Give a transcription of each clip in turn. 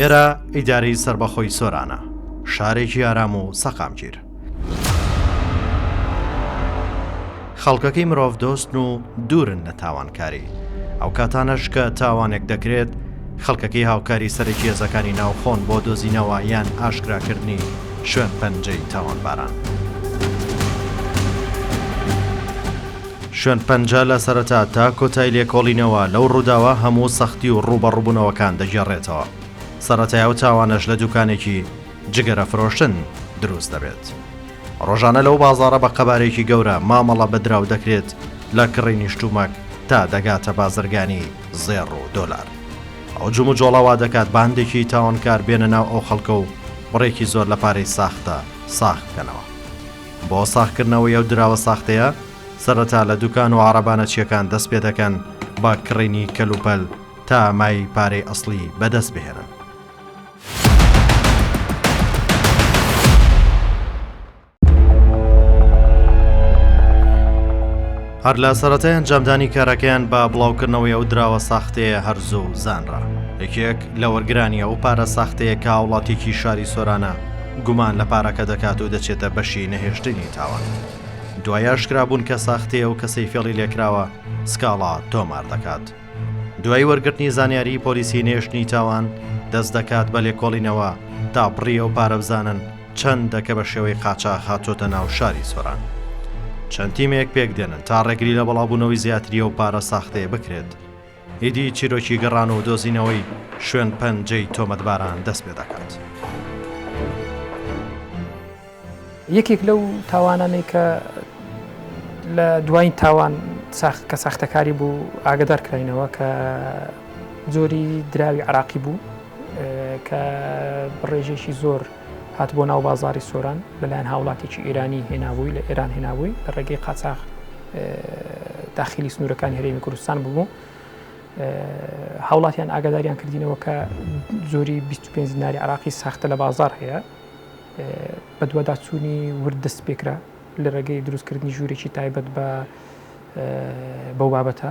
ئێرە ئیدارەی سربەخۆی سۆرانە شارێکی ئارام و سەقامگیر خەڵکەکەی مرۆڤ دۆستن و دوورن لە تاوانکاری ئەو کاتانەش کە تاوانێک دەکرێت خەڵکەکەی هاوکاری سەرەکیێزەکانی ناوخۆن بۆ دۆزینەوە یان ئاشکراکردنی شوێن پەنجەی تاوانباران. شوێن پەنجە لە سەرەتا تا کۆتای لێکۆڵینەوە لەو ڕووداوە هەموو سەختی و ڕووبەڕووبوونەوەکان دەگێڕێتەوە. سەرەتای ئەو تاوانەش لە دوکانێکی جگەرە فرۆشتن دروست دەبێت. ڕۆژانە لەو بازاڕە بە قەبارەیەکی گەورە مامەڵە بە دراو دەکرێت لە کڕینی شتومەک تا دەگاتە بازرگانی زێڕ و دۆلار. ئەو جموجۆڵە وا دەکات باندێکی تاوانکار بێنە ناو ئەو خەڵکە و بڕێکی زۆر لە پارەی ساختە ساغ بکەنەوە. بۆ ساغکردنەوەی ئەو دراوە ساختەیە، سەرەتا لە دوکان و عەڕەبە نەچییەکان دەست پێ دەکەن بە کڕینی کەلوپەل تا مای پارەی ئەسڵی بەدەست بهێنن. هەر لە سەرەتای ئەنجامدانی کارەکەیان بە بڵاوکردنەوەی ئەو دراوە ساختەیە هەرزوو زانرا یەکێک لە وەرگرانی ئەو پارە ساختەیە کە وڵاتێکی شاری سۆرانە گومان لە پارەکە دەکات و دەچێتە بەشی نەهێشتنی تاوان دوایە شکرابوون کە ساختەیە و کەسەی فێڵی لێکراوە سکاڵا تۆمار دەکات. دوای وەرگرتنی زانیاری پۆلیسی نێشتنی تاوان دەست دەکات بە لێکۆڵینەوە تا بڕی ئەو پارە بزانن چەندە کە بە شێوەی قاچاخ هاتۆتە ناو شاری سۆران چەند تیمێک پێک دێنن تا ڕێگری لە بەڵابوونەوەی زیاتری و پارە ساختەیە بکرێت ئیدی چیرۆکی گەڕان و دۆزینەوەی شوێن پەنجەی تۆمەتباران دەست پێ دەکات. یەکێک لەو تاوانانەی کە لە دوایین تاوان ساخت کە ساختەکاری بوو ئاگدار کراینەوە کە جۆری دراوی عراقی بوو کە بڕێژێکی زۆر هات بۆ ناو بازاری سۆران لەلایەن هاوڵاتێکی ئێرانی هێنابووی لە ئێران هێنابووی لە ڕێگەی قاچاخ داخلی سنوورەکانی هەرێمی کوردستان ببوو هاوڵاتیان ئاگاداریان کردینەوە کە زۆری 25 ناری عراقی ساختە لە بازار هەیە بەدواداچوونی ورد دەستپێکرا لە ڕێگەی دروستکردنی ژوورێکی تایبەت بە بەو بابەتە.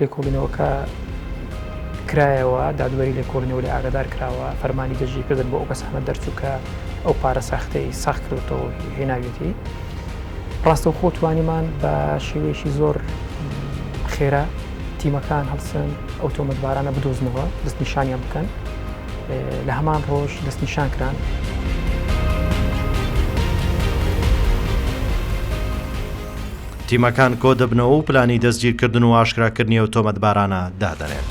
لێکۆڵینەوەکە کرایەوە، دادوەری لێکۆڵینەوەی ئاگادار کراوە، فەرمانی دەستگیرکردن بۆ ئەو کەسانە دەرچوو کە ئەو پارە ساختەی ساخ کردووەتەوە و هێناویەتی. ڕاستەوخۆ توانیمان بە شێوەیەکی زۆر خێرا تیمەکان هەڵسن ئەو تۆمەتبارانە بدۆزنەوە، دەستنیشانیان بکەن. لە هەمان ڕۆژ دەستنیشان کران. تیمەکان کۆدەبنەوە و پلانی دەستگیرکردن و ئاشکراکردنی ئەو تۆمەتبارانە دادەنێن.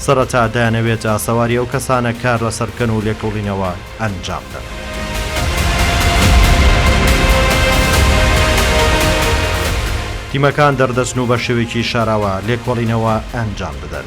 سەرەتا دەیانەوێت ئاسەواری ئەو کەسانە کار لەسەر بکەن و لێکۆڵینەوە ئەنجام بدەن. تیمەکان دەردەچن و بە شێوەیەکی شاراوە لێکۆڵینەوە ئەنجام دەدەن.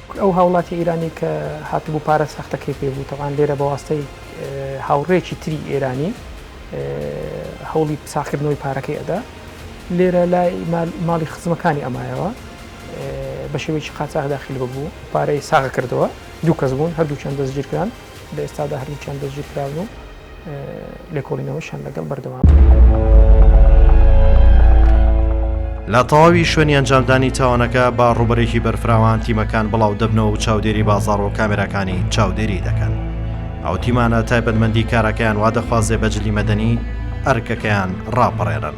کورد ئەو هاوڵاتی ئێرانی کە هاتبوو پارە سەختەکەی پێ بوو تەبعەن لێرە بە واستەی هاوڕێیەکی تری ئێرانی هەوڵی ساخکردنەوەی پارەکەی ئەدا لێرە لای ماڵی خزمەکانی ئەمایەوە بە شێوەیەکی قاچاخ داخل ببوو پارەی ساغ کردەوە دوو کەس بوون هەردوو چەند دەستگیرکران لە ئێستادا هەردووکیان دەستگیرکراون و لێکۆڵینەوەشیان لەگەڵ بەردەوامە. لە تەواوی شوێنی ئەنجامدانی تاوانەکە بە ڕووبەرێکی بەرفراوان تیمەکان بڵاو دەبنەوە و چاودێری بازاڕ و کامێراکانی چاودێری دەکەن ئەو تیمانە تایبەتمەندی کارەکەیان وا دەخوازێ بە جلی مەدەنی ئەرکەکەیان ڕاپەڕێنن.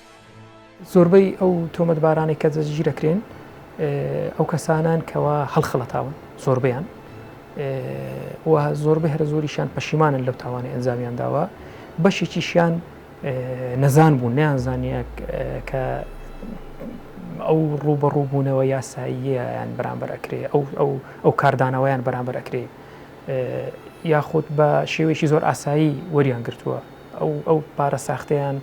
زۆربەی ئەو تۆمەتبارانەی کە دەستگیر دەکرێن ئەو کەسانەن کەوا هەڵخەڵەتاون زۆربیان و زۆربەی هەرە زۆریشان پەشیمانن لەو تاوانە ئەنجامیان داوە بەشێکیشیان نەزان بوو نیان زانیە کە ئەو ڕوبەڕووبوونەوە یاساییەیان بەرامبەر ئەکرێ ئەو ئەو ئەو کاردانەوەیان بەرامبەر ئەکرێ یاخود بە شێوەیەکی زۆر ئاسایی وەریان گرتووە ئەو ئەو پارە ساختەیان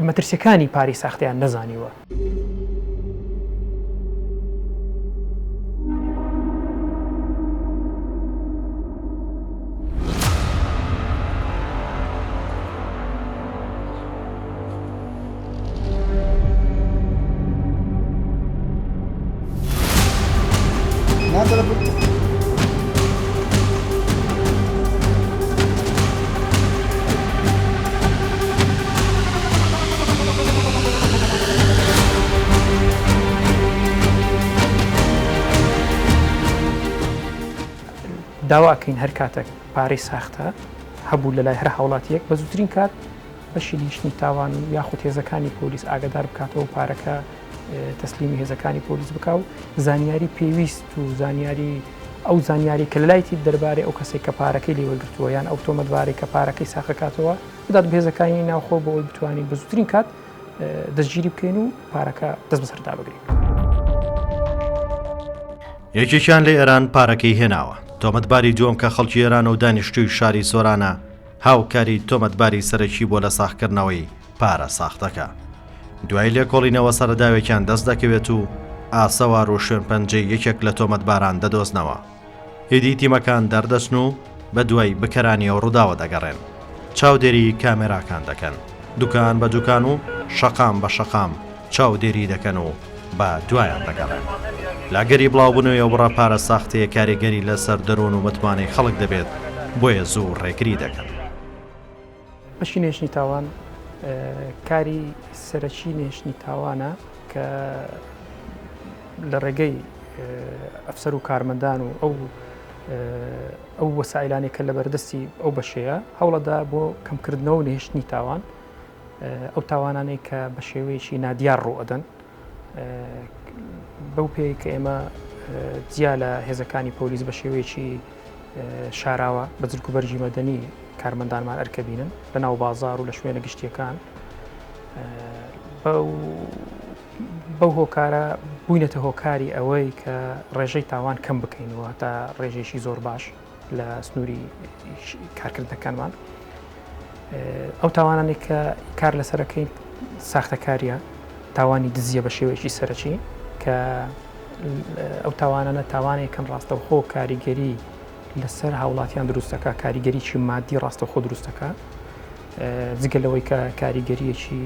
مەترسیەکانی پاری ساختەیان نەزانیوە. داواکەین هەر کاتێک پارەی ساختە هەبوو لەلای هەر هاوڵاتیەک بە زووترین کات بەشی لیژنەی تاوان و یاخود هێزەکانی پۆلیس ئاگدار بکاتەوە و پارەکە تەسلیمی هێزەکانی پۆلیس بک و زانیاری پێویست و زانیاری ئەو زانیاری کە لایتی دەربارەی ئەو کەسێک کە پارەکەی لێ وەرگتووە یان ئەو تۆمەتبارەی کە پارەکەی ساقەکاتەوە بدات بهێزەکانی ناوخۆ بۆ ئەوی بتوانین بە زوترین کات دەستگیری بکەین و پارەکە دەست بەسەردا بگرین. یەکێکیان لە ئێران پارەکەی هێناوە تۆمەتباری دووەم کە خەڵکی ئێران و دانیشتووی شاری سۆرانە هاوکاری تۆمەتباری سەرەکی بووە لە ساغکردنەوەی پارە ساختەکە. دوای لێکۆڵینەوە سەرەداوێکیان دەست دەکەوێت و ئاسەوار و شوێنپەنجەی یەکێک لە تۆمەتباران دەدۆزنەوە. ئیدی تیمەکان دەردەچن و بە دوای بکەرانی ئەو ڕووداوە دەگەڕێن. چاودێریی کامێراکان دەکەن. دوکان بە دوکان و شەقام بە شەقام چاودێری دەکەن و بە دوایان دەگەڕێن. لەئەگەری بڵاوبونەوەی ئەوبڕە پارە ساختەیە کاریگەری لەسەر دەرون و متمانەی خەڵک دەبێت، بۆیە زوو ڕێگری دەکەن. بەشی نەهێشتنی تاوان کاری سەرەکی نەهێشتنی تاوانە کە لەڕێگەی ئەفسەر و کارمەندان و ئەو ئەو وەسائیلانەی کە لەبەردەستی ئەو بەشەیە هەوڵەدا بۆ کەمکردنەوەو نەهێشتنی تاوان ئەو تاوانانەی کە بە شێوەیەکی نادیار ڕوئەدەن بەو پێی کە ئێمە جیا لە هێزەکانی پۆلیس بە شێوەیەکی شاراوە بە جلک و بەرگی مەدەنی کارمەندانمان ئەرکەبینن لە ناو بازار و لە شوێنە گشتیەکان بەو هۆکارە بووینەتە هۆکاری ئەوەی کە ڕێژەی تاوان کەم بکەینەوە تا ڕێژێکی زۆر باش. لە سنووری کارکردنەکانمان ئەو تاوانانێک کە کار لەسەرەکەی ساختەکاریە تاوانی دزیە بە شێوەیەکی سەرەکی کە ئەو تاوانانە تاوانێک کەم ڕاستەوخۆ کاریگەری لەسەر هاوڵاتیان دروستەکە کاریگەریی مادی ڕاستەخۆ دروستەکە جگە لەوەی کە کاریگەریەکی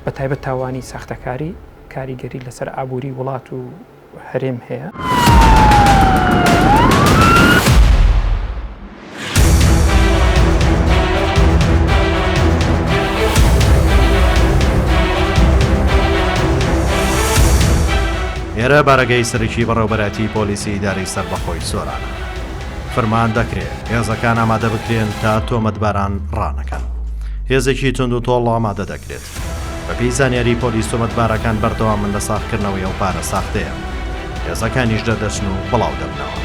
بە تایبەت تاوانی ساختەکاری کاریگەری لەسەر ئابووری وڵات و و هەرێم هەیە. ئێرە بارەگای سەرەکی بەڕێوبەرایەتی پۆلیسی ئیدارەی سەربەخۆی سۆرانە. فرمان دەکرێت هێزەکان ئامادە بکرێن تا تۆمەتباران ڕانەکەن. هێزێکی توندوتۆڵ ئامادە دەکرێت. بەپێی زانیاریی پۆلیس تۆمەتبارەکان بەردەوامن لە ساغکردنەوەی ئەو پارە ساختەیە، هێزەکانیش دەردەچن و بڵاودەبنەوە.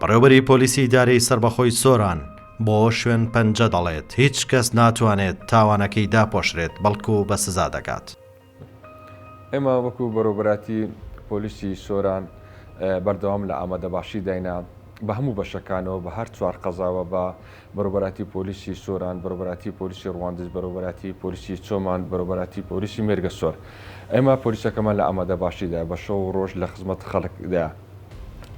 بەڕێوبەری پۆلیسی ئیدارەی سەربەخۆی سۆران بۆ شوێن پەنجە دەڵێت هیچ کەس ناتوانێت تاوانەکەی داپۆشرێت بەڵکو بە سزا دەکات. ئێمە وەکو بەرەوبەراتی پۆلیسی سۆران بەردەوام لە ئامادەباشی داینە بە هەموو بەشەکانەوە بە هەر چوار قەزاوە بە بەرەوبەرایەتی پۆلیسی سۆران، بەرەوبەرایەتی پۆلیسی رواندز، بەرەوبەرایەتی پۆلیسی چۆمان، بەرەوبەرایەتی پۆلیسی مێرگەسۆر. ئێمە پۆلیسەکەمان لە ئامادەباشیدایە، بە شەو و رۆژ لە خزمەت خەڵکدایە.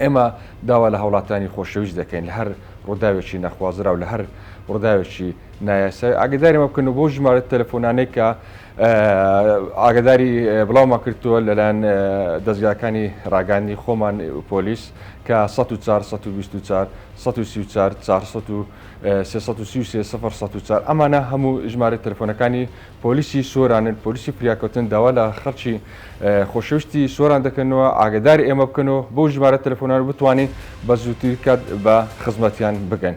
ئێمە داوا لە هاوڵاتیانی خۆشەویست دەکەین لە هەر روداوێکی نەخوازراو، لە هەر روداوێکی نایاسایی ئاگەداری ئەمە بکەن و بەو ژمارە تەلەفۆنانەی کە. ئاگاداری بڵاومان کردووە لەلایەن دەزگاکانی ڕاگەاندنی خۆمان پۆلیس کە 1940 ئەمانە هەموو ژمارە تەلفۆنەکانی پۆلیسی سۆرانن پۆلیسی فریاکەوتن داوا لە خەڵکی خۆشەویستی سۆران دەکەنەوە ئاگداری ئێمە بکەن و بۆ ژمارە تەلەفۆنان بتوانین بە زووتر کات بە خزمەتیان بگەن.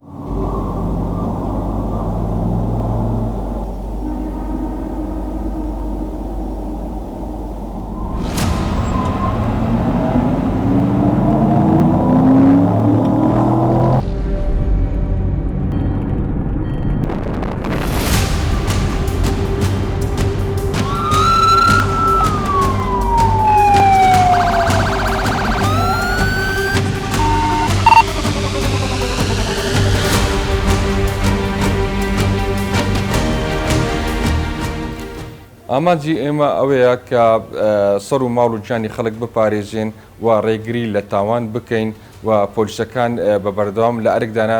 ئامانجی ئێمە ئەوەیە کە سەر و ماڵ و گیانی خەڵک بپارێزین و ڕێگری لە تاوان بکەین و پۆلیسەکان بە بەردەوام لە ئەرکدانە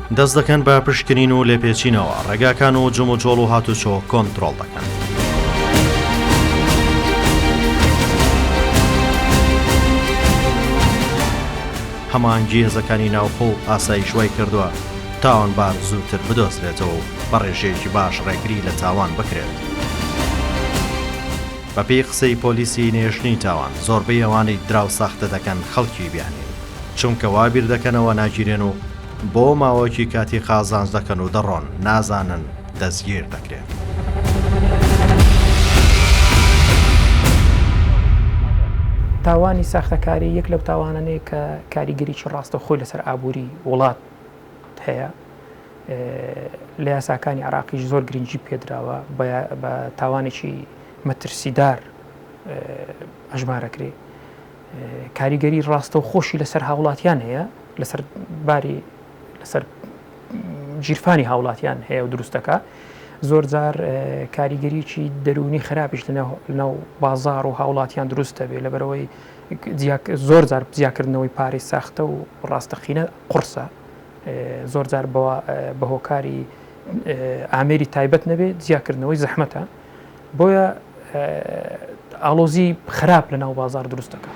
دەست دەکەن بە پشکنین و لێپێچینەوە، ڕێگاکان و جموجۆڵ و هاتوچۆ کۆنترۆڵ دەکەن. هەمانگی هێزەکانی ناوخۆ و ئاسایش وای کردووە تاوانبار زووتر بدۆزرێتەوە و بە ڕێژەیەکی باش ڕێگری لە تاوان بکرێت. بەپێی قسەی پۆلیسی نێژنی تاوان زۆربەی ئەوانەی دراو ساختە دەکەن خەڵکی بیانین چونکە وا بیر دەکەنەوە ناگیرێن و بۆ ماوەکی کاتی قازانج دەکەن و دەڕۆن نازانن دەستگیر دەکرێن. تاوانی ساختەکاری یەک لەو تاوانەنەیە کە کاریگەریی ڕاستە خۆی لەسەر ئابووری وڵات هەیە لە یاساکانی عراقیش زۆر گرنگجی پێدراوە بە تاوانێکی مەترسیدار ئەژمارەکرێ کاریگەری ڕاستەوخۆشی لەسەر هاوڵاتیان هەیە لەسەر باری لەسەر گیرفانی هاوڵاتیان هەیە و دروستەکە زۆر جار کاریگەریی دەرونی خراپیش لەناو بازار و هاوڵاتیان دروست دەبێ لە بەرەوەی زۆر جار جیاکردنەوەی پارەی ساختە و ڕاستەقینە قرسە زۆر جار بە هۆکاری ئامێری تایبەت نەبێت جیاکردنەوەی زەحمەتە بۆیە ئاڵۆزی خراپ لە ناو بازار دروست دەکات.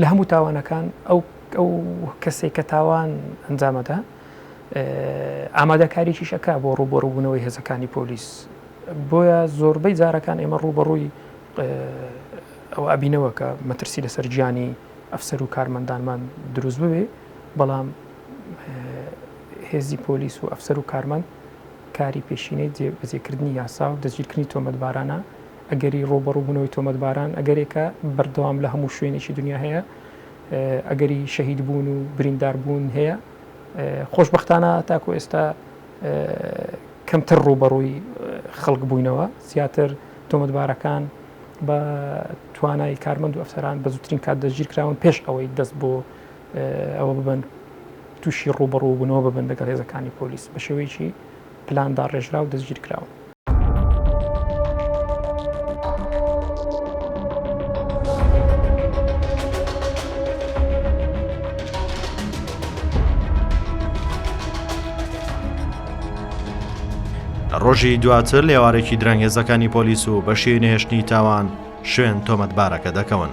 لە هەموو تاوانەکان ئەو ئەو کەسێک کە تاوان ئەنجامەدا ئامادەکاریشیش ئەک بۆ ڕووبەڕووبوونەوەی هێزەکانی پۆلیس بۆیە زۆربەی جارەکان ئێمە ڕووبەڕووی ئەو ئابینەوە کە مەترسی لەسەر گیانی ئەفسەر و کارمەندانمان دروست ببێ بەڵام هێزی پۆلیس و ئەفسەر و کارمەند کاری پێشینەی بەجێکردنی یاسا و دەستگیرکردنی تۆمەتبارانە ئەگەری ڕووبەڕووبوونەوەی تۆمەتباران ئەگەرێکە بەردەوام لە هەموو شوێنێکی دنیا هەیە، ئەگەری شەهیدبوون و برینداربوون هەیە، خۆشبەختانە تاکو ئێستا کەمتر ڕووبەڕووی خەڵک بووینەوە، زیاتر تۆمەتبارەکان بە توانای کارمەند و ئەفسەران بە زووترین کات دەستگیر کراون پێش ئەوەی دەست بۆ ئەوە ببن تووشی ڕووبەڕووبوونەوە ببن لەگەڵ هێزەکانی پۆلیس بە شێوەیەکی پلان داڕێژرا و دەستگیر کراون. لە ڕۆژی دواتر لێوارێکی درەنگ هێزەکانی پۆلیس و بەشی نەهێشتنی تاوان شوێن تۆمەتبارەکە دەکەون.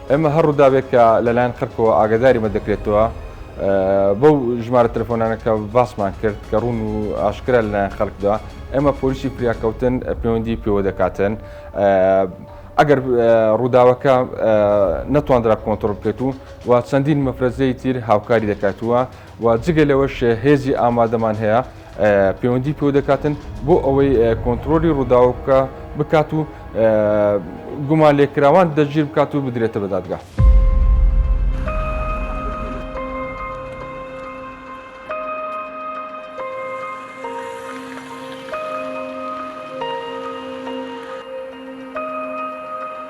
ئێمە هەر ڕووداوێک کە لەلایەن قەرکەوە ئاگاداریمە دەکرێتەوە بەو ژمارە تەلەفۆنانە کە باسمان کرد کە ڕوون و ئاشکرا لەلایەن خەڵکدا ئێمە پۆلیسی فریاکەوتن پەیوەندی پێوە دەکاتن ئەگەر ڕووداوەکە نەتواندرا کۆنتترۆل بکەیت و و چەندین مەفرەزەی تیر هاوکاری دەکاتووە و جگە لەوەش هێزی ئامادەمان هەیە پەیوەندی پێو دەکاتن بۆ ئەوەی کۆنتترۆلی ڕووداوکە بکات و گومان لێکراوان دەگیر بکات و بدرێتە بەدادگا.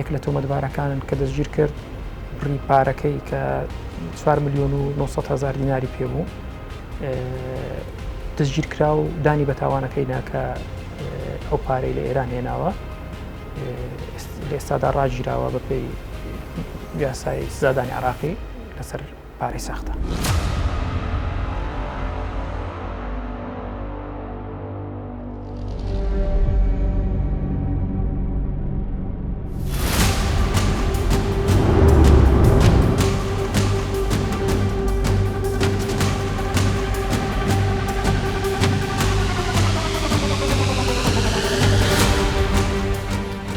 یەک لە تۆمەتبارەکانن کە دەستگیر کرد بڕی پارەکەی کە 4 میلیۆن و 900 هزار دیناری پێ بوو دەستگیر کرا و دانی بە تاوانەکەی ناکە ئەو پارەی لە ئێران هێناوە لە ئێستادا ڕاگیراوە بەپی یاسای سزادانی عراقی لەسەر پارەی ساختە.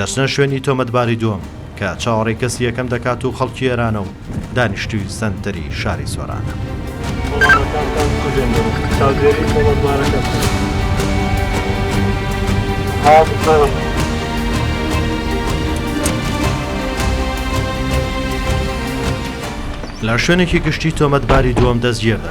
دەچنە شوێنی تۆمەتباری دووەم کە چاوەڕێی کەسی یەکەم دەکات و خەڵکی ئێرانە و دانیشتووی سەنتەری شاری سۆرانە. لە شوێنێکی گشتی تۆمەتباری دووەم دەستگیردە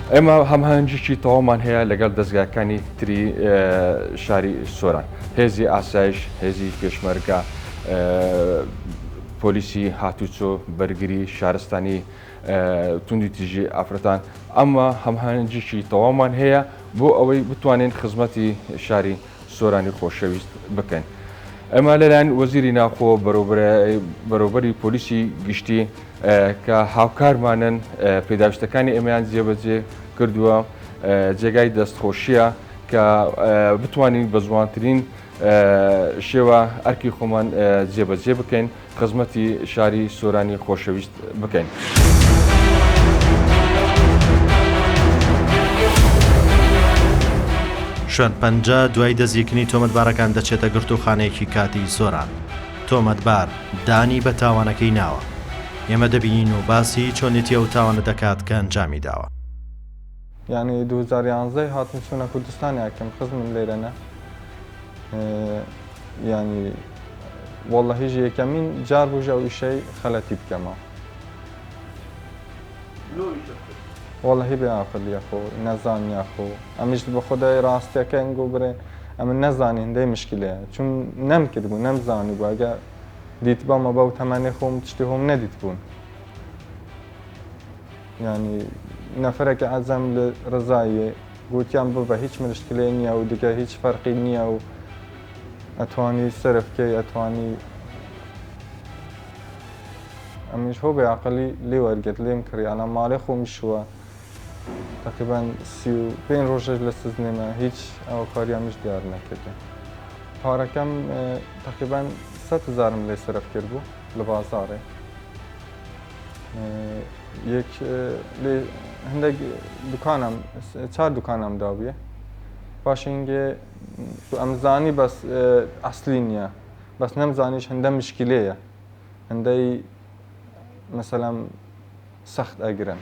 ئێمە هەماهەنگیی تەواومان هەیە لەگەڵ دەزگاکانی تری شاری سۆران، هێزی ئاسایش، هێزی پێشمەرگە، پۆلیسی هاتوچۆ، بەرگری شارستانی، توندوتیژی ئافرەتان، ئەمە هەماهەنگیی تەواومان هەیە بۆ ئەوەی بتوانین خزمەتی شاری سۆرانی خۆشەویست بکەن. ئەمە لەلایەن وەزیری ناوخۆ بەرەوبەری پۆلیسی گشتی کە هاوکارمانن پێداویستەکانی ئێمەیان جێبەجێ کردووە جێگای دەستخۆشیە کە بتوانین بە جوانترین شێوە ئەرکی خۆمان جێبەجێ بکەین. خزمەتی شاری سۆرانی خۆشەویست بکەین. شوێن پەنجە دوای دەستگیرکردنی تۆمەتبارەکان دەچێتە گرتووخانەیەکی کاتیی سۆران. تۆمەتبار دانی بە تاوانەکەی ناوە. ئێمە دەبینین و باسی چۆنێتی ئەو تاوانە دەکات کە ئەنجامی داوە. یانی دوو هەزار و یانزدە ی هاتم چونە کوردستان یاکەم خزمم لێرە نە یانی وەڵە هیچ یەکەمین جار بژە و ئیشەی خەلەتی بکەمە وەڵە هی بێ ئاقل یەخۆ نەزان یاخۆ ئەمیش بە خۆدای ڕاستیەکەن گۆ برێ ئەمە نەزانانی هەندەی مشکلەیە چون نەم کردبوو نەمزانی بەگە دیت بەمە بەو تەمانێ خۆم شتی هۆم نەدیت بوون یانی نەفرەکی عەزەم لە رزایێ گوتیان ببە هیچ مرشکلێ نیە و دگە هیچ فەرقی نیە و ئەتوانی سەرف کەی ئەتوانی ئەمیش هۆ بێ عەقڵی لێ وەرگرت لێم کڕی ئەلان ماڵێ خۆمی شووە تەقیبەن سی و پێنج رۆژەش لە سزنێمە هیچ ئەوە کاریانمیش دیار نەکردن پارەکەم تەقیبەن سەد هەزارم لێ سەرف کرد بوو لە بازاڕێ یەک لێ هەندێک دوکانم چار دوکانم دابیە پاشنگێ تو ئەمزانی بەس ئەسلی نییە بەس نەمزانیش هەندە مشکلەیە هەندەی مەسەلەم سەخت ئەگرن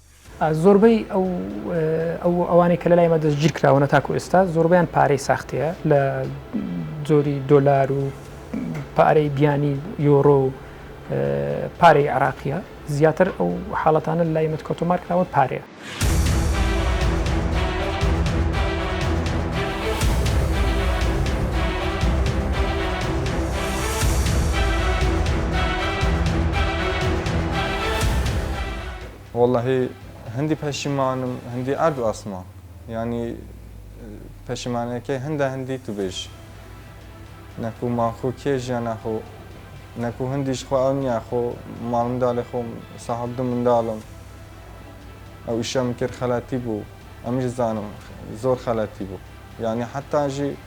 زۆربەی ئەو ئەو ئەوانەی کە لەلای ئێمە دەستگیر کراوەنە تاکو ئێستا زۆربەیان پارەی ساختەیە لە جۆری دۆلار و پارەی بیانی یۆرۆ و پارەی عراقیە زیاتر ئەو حاڵەتانە لای مت کۆتۆمار کراوە پارەیە. وەڵاهی هەندی پەشیمانم هەندی ئەرد و ئاسمان یانی پەشیمانەکەی هەندە هەندی تو بێژ نەکو ماخو کێ ژیان ناخۆ نەکو هەندیش خۆ ئەو نیە خۆ ماڵ منداڵی خۆم ساحب دوو منداڵم ئەو ئیشەم کرد خەلاتی بوو ئەمیش زانم زۆر خەلاتی بوو یانی حەتاژی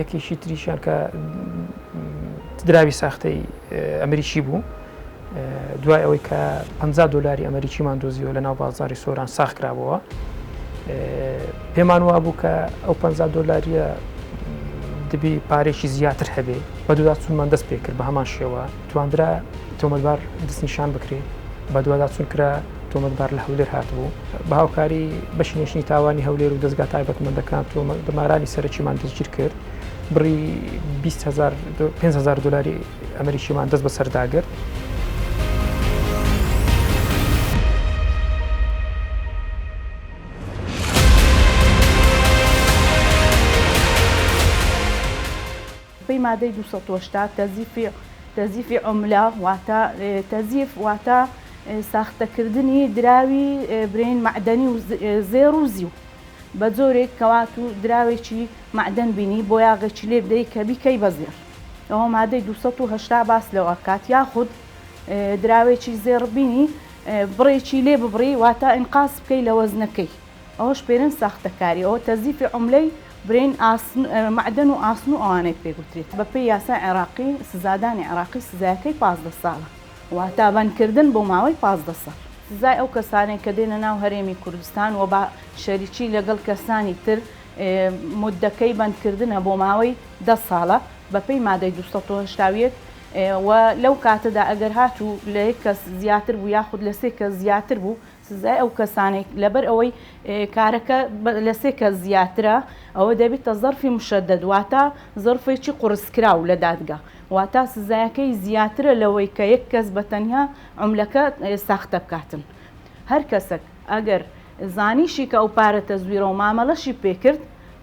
یەکێکی تریشیان کە دراوی ساختەی ئەمریکی بوو دوای ئەوەی کە 50 دلاری ئەمریکیمان دۆزیەوە لە ناو بازاری سۆران ساخ کرابەوە پێمان وا بوو کە ئەو 50 دلاریە دەبی پارێکی زیاتر هەبێ بە دودا چونمان دەست پێ کرد بە هەمان شێوە تواندرا تۆمەبار دەستنیشان بکرێ بە دودا چون کرا تۆمەتبار لە هەولێر هاتبوو بە هاوکاری بەشی نوێژنی تاوانی هەولێر و دەستگا تایبەتمەندەکان تۆمەتبارانی سەرەکیمان دەستگیر کرد بڕی 500 دلاری ئەمریکیمان دەست بەسەرداگرت. بەپێی مادەی دوو سەد و هەشتا تەزیفی تەزیفی عملە واتە تەزیف واتە ساختەکردنی دراوی برین معدەنی و زێڕ و زیو بە جۆرێک کەوات و دراوێکی معدەن بینی بۆ یاغێکی لێ بدەی کە بیکەی بە زێڕ ئەوە مادەی دوو سەد و هەشتا باس لەوە کات یاخود دراوێکی زێڕ بینی بڕێکی لێ ببڕی واتە ئینقاس بکەی لە وەزنەکەی ئەوەش پێرێن ساختەکاری ئەوە تەزیفی عوملەی برێن مەعدەن و ئاسن و ئەوانەی پێ گوترێت بە پێی یاسای عێراقی سزادانی عێراقی سزایەکەی پازدە ساڵە واتا بەندکردن بۆ ماوەی پازدە ساڵ. سزای ئەو کەسانەی کە دێنە ناو هەرێمی کوردستان و بە شەریکی لەگەڵ کەسانی تر موددەکەی بەندکردنە بۆ ماوەی دە ساڵە بە پێی مادەی دوو سەد و هەشتا و یەک و لەو کاتەدا ئەگەر هاتوو لە یەک کەس زیاتر بوو یاخود لە سێ کەس زیاتر بوو سزای ئەو کەسانەی لەبەر ئەوەی کارەکە لە سێ کەس زیاترە ئەوە دەبیتە زەرفی مشەدەد واتە زەرفێکی قورسکراو لە دادگە واتە سزایەکەی زیاترە لەوەی کە یەک کەس بە تەنیا عوملەکە ساختە بکاتن هەر کەسەک ئەگەر زانیشی کە ئەو پارە تەزویرە و مامەلەشی پێکرد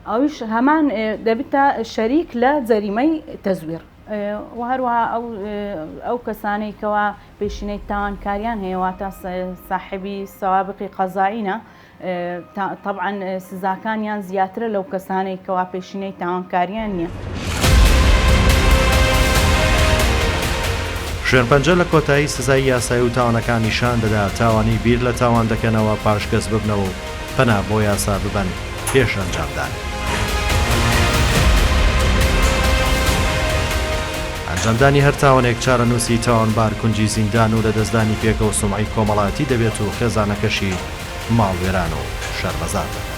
ئەویش هەمان دەبیتە شەریک لە جەریمەی تەزویر و هەروەها ئەو کەسانەی کەوا پێشینەی تاوانکاریان هەیە واتە ساحێبی سەوابقی قەزایینە تەبعەن سزاکانیان زیاترە لەو کەسانەی کەوا پێشینەی تاوانکاریان نییە. شێرپەنجە لە کۆتایی سزای یاسایی و تاوانەکان نیشان دەدا تاوانی بیر لە تاوان دەکەنەوە پاش کەس ببنەوە و پەنا بۆ یاسا ببەن پێش ئەنجامدانی. ئەنجامدانی هەر تاوانێک چارەنووسی تاوانبار کونجی زیندان و لەدەستدانی پێگە و سومعەی کۆمەڵایەتی دەبێت و خێزانەکەشی ماڵوێران و شەرمەزار دەکات.